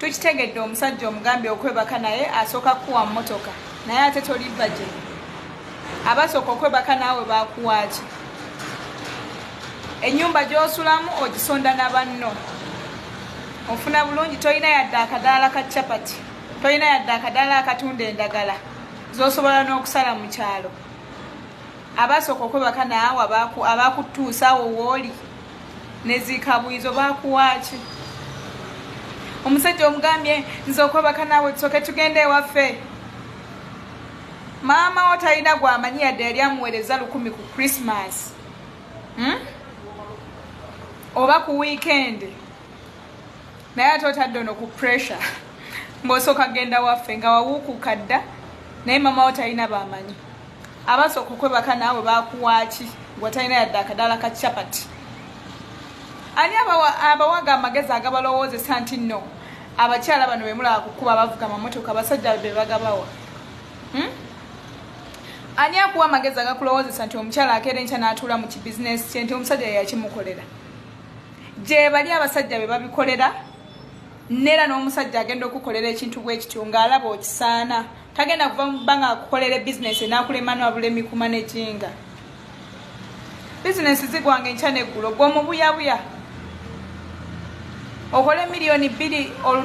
tukitegedde omusajja omugambye okwebaka naye asooka kukuwa mmotoka naye ate toli baje abasooka okwebaka naawe bakuwaaki enyumba gyosulamu ogisonda na banno ofuna bulungi tolina yadde akadaala ka chapati tolina yadde akadaala akatunda endagala zosobola n'okusala mu kyalo abasooka okwebaka naawe abakutuusa awo wooli nezikabuizo bakuwaki omusajja omugambye nze okwebaka naawe tusoke tugenda ewaffe maama wo talina gwamanyi yadde yali amuweereza lukumi ku krismas hmm? oba ku wiikendi naye ate otadde ono ku pressure ng'osooka genda waffe nga wawuukuka dda naye maama wo talina bamanyi abasooka okwebaka naawe bakuwaaki gwatalina yadde akadaala ka chapati ani abawaga amagezi agabalowoozesa nti no abakyala bano bemulaba kukuba abavuga amamotoka abasajja bebagabawa hmm? ani akuwa amagezi agakulowoozesa nti omukyala akeera enkya n'atuula mu kibizinesi kye nti omusajja yeyakimukolera gyebali abasajja be babikolera neera n'omusajja agenda okukolera ekintu bwekityo ng'alaba okisaana tagenda kuva mu bbanga akukolere bizinesi enakulemanu abula emikuma nejinga bizinesi zigwanga enkya neggulo gwomubuyabuya okole miliyoni bbiri